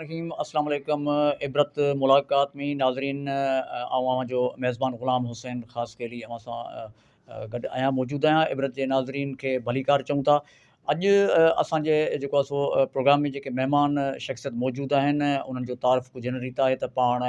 رحيم اسلام عليڪم عبرت ملاقات ۾ ناظرين آئون اوهان جو ميزبان غلام حسين خاص خيلي اوهان سان گڏ آهيان موجود آهيان عبرت جي ناظرين کي ڀليڪار چون ٿا اڄ اسان جي جيڪو اسو پروگرام ۾ جيڪي مهمان شخصيت موجود آهن انهن جو تعارف ڪجهه هن ريت آهي ته پاڻ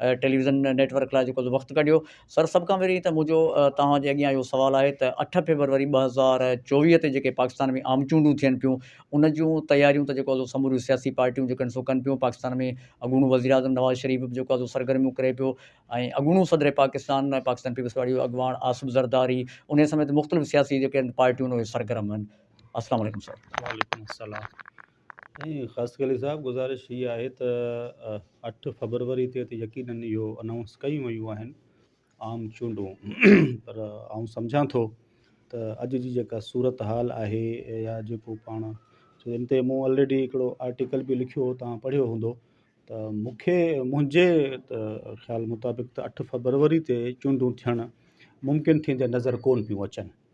ٽيليويزن نيٽ ورڪ لاء جيڪو وقت ڪڍيو سر سڀ کان پهرين ته منهنجو توهان جي اڳيان اهو سوال آهي ته اٺ فيبروري ٻه هزار چوويهه تي جيڪي پاڪستان ۾ عام چونڊون ٿين پيون ان جون تياريون ته جيڪو سو سموريون سياسي پارٽيون جيڪو آهن سو ڪن پيون پاڪستان ۾ اڳوڻو وزيراعظم نواز شريف به جيڪو آهي سو سرگرميون ڪري پيو ۽ اڳوڻو صدر پاڪستان پاڪستان پيپلز پارٽي جو اڳواڻ آصف زرداري ان سميت مختلف سياسي جيڪي آهن پارٽيون اهي سرگرم آهن السلام عليڪم سر وعليڪم السلام ۽ خاص خليل صاحب گذارش هي آهي ته اٺ فبروري تي ته يقينن اهو انائونس ڪيون ويون آهن عام چونڊون پر آئون سمجهان ٿو ته اڄ جي جيڪا صورت حال آهي يا جيڪو پاڻ سو ان تي مون آلريڊي هڪڙو آرٽيڪل به لکيو هو تان پڙهيو هوندو ته مونکي منهنجي خيال مطابق ته اٺ فبروري تي چونڊون ٿيڻ ممڪن ٿيندي نظر ڪون پيون اچن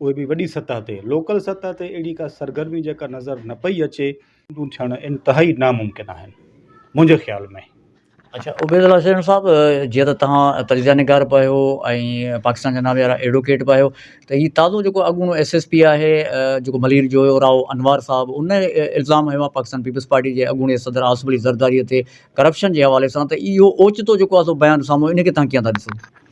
اهي به وڏي سطح تي، لوڪل سطح تي اهڙي ڪا سرگرمي جيڪا نظر نه پئي اچي. جون ٿيڻ انتهائي ناممڪن آهن منهنجي خيال ۾. اڇا عبيد الله شيرڻ صاحب جيئن ته توهان تجزيه نگار به آهيو ۽ پاڪستان جا نالي وارا ايڊوڪيٽ به آهيو ته هي تازو جيڪو اڳوڻو ايس ايس پي آهي جيڪو ملير جو هيو راهو انوار صاحب ان الزام هنيو آهي پاڪستان پيپلز پارٽي جي اڳوڻي صدر آصف علي زرداري تي ڪرپشن جي حوالي سان ته اهو اوچتو جيڪو آهي سو بيان سامهون ان کي توهان ڪيئن ٿا ڏسو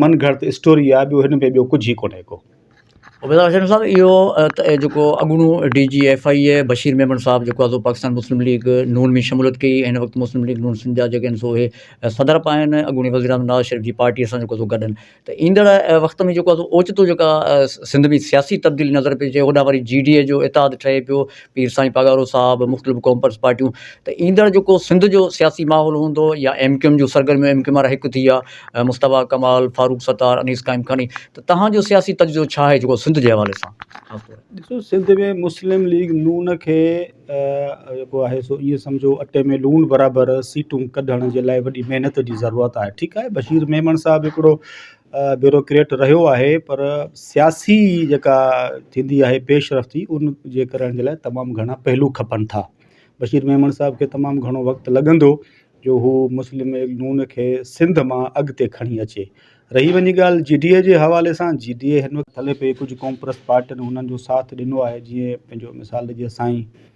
من گھڙت اسٽوري آ ٻيو ھن ۾ ٻيو ڪجھ ھي ڪونھي ڪو. عبيد حسين صاحب اهو جيڪو اڳوڻو D G F I A Bashir Memon صاحب جيڪو آزو پاڪستان مسلم ليگ نون ۾ شموليت ڪئي ۽ هن وقت مسلم ليگ نون سنڌ جا جيڪي آهن سو اهي صدر به آهن اڳوڻي وزير اعظم نواز شريف جي پارٽيء سان جيڪو سو گڏ آهن ته ايندڙ وقت ۾ جيڪو آهي سو اوچتو جيڪا سنڌ ۾ سياسي تبديلي نظر پئي اچي هوڏانهن وري جي ڊي اي جو اتحاد ٺهي پيو پير سائين پاڳارو صاحب مختلف ڪونپرس پارٽيون ته ايندڙ جيڪو سنڌ جو سياسي ماحول هوندو يا ايم ڪيو ايم جون سرگرميون ايم ڪيو ايم وارا هڪ ٿي ويا مصطفيٰ ڪمال فاروق ستار انيس قائم خاني ته تهانجو سياسي تجزيو ڇا آهي جيڪو سنڌ جي حوالي سان خاص طور ڏسو سنڌ ۾ مسلم ليگ نون کي جيڪو آهي سو ائين سمجهو اٽي ۾ لوڻ برابر سيٽون ڪڍڻ جي لاء وڏي محنت جي ضرورت آهي ٺيڪ آهي بشير ميمڻ صاحب هڪڙو بيوروڪريٽ رهيو آهي پر سياسي جيڪا ٿيندي آهي پيش رفتي ان جي ڪرڻ جي لاء تمام گهڻا پهلو کپن ٿا بشير ميمڻ صاحب کي تمام گهڻو وقت لڳندو جو هو مسلم ليگ نون کي سنڌ مان اڳتي کڻي اچي رهي وڃي ڳالهه جي ڊي اي جي حوالي سان جي ڊي اي هن وقت هلي پئي ڪجهه قوم پرست پارٽين هنن جو ساٿ ڏنو آهي جيئن پنهنجو مثال ڏجي سائين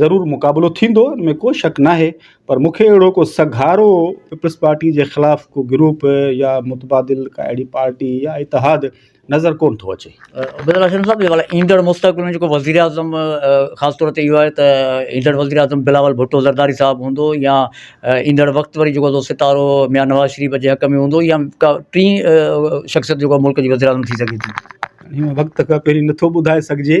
ضرور مقابلو ٿيندو ان ۾ ڪو شڪ ناهي پر مون کي اهڙو ڪو سگهارو پيپلز پارٽي جي خلاف ڪو گروپ يا متبادل ڪا اهڙي پارٽي يا اتحاد نظر ڪونه ٿو اچي. عبيد الله شميم صاحب جيڪو ايندڙ مستقبل ۾ جيڪو وزيراعظم خاص طور تي اهو آهي ته ايندڙ وزيراعظم بلاول ڀٽو زرداري صاحب هوندو يا ايندڙ وقت وري جيڪو ستارو ميان نواز شريف جي حق ۾ هوندو يا ڪا ٽين شخصيت جيڪو ملڪ جي وزيراعظم ٿي سگهي ٿي. هن وقت کان پهرين نٿو ٻڌائي سگهجي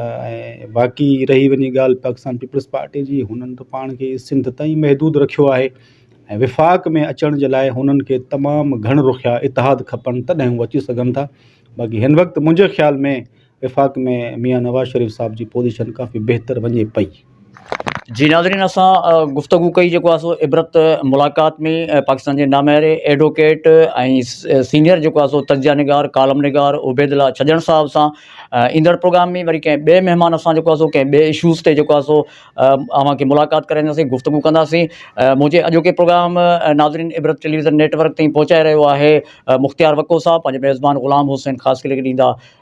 ۽ باقي رهي وڃي ڳالهه پاڪستان پيپلز پارٽي جي هنن ته پاڻ کي سنڌ تائين محدود رکيو آهي ۽ وفاق ۾ اچڻ جي لاء هنن کي تمامु گهڻ رخيا اتحاد کپن تڏهن هو اچي سگهن ٿا باقي هن وقت منهنجي خيال ۾ وفاق ۾ ميان نواز شريف صاحب جي پوزيشن ڪافي بهتر وڃي پئي جي ناظرين اسان گفتگو ڪئي جيڪو آهي سو عبرت ملاقات ۾ پاڪستان جي نامياري ايڊووڪيٽ ۽ سينيئر جيڪو آهي سو تجزيه نگار ڪالم نگار عبيد الله ڇڄڻ صاحب سان ايندڙ پروگرام ۾ وري ڪنهن ٻئي مهمان سان جيڪو آهي سو ڪنهن ٻئي اشوز تي جيڪو آهي سو اوهان کي ملاقات ڪرائينداسين گفتگو ڪنداسين منهنجي اڄوڪي پروگرام ناظرين عبرت ٽيليويزن نيٽورڪ تائين پهچائي رهيو آهي مختيار وڪو صاحب پنهنجي ميزبان غلام حسين خاصخيلي کي ڏيندا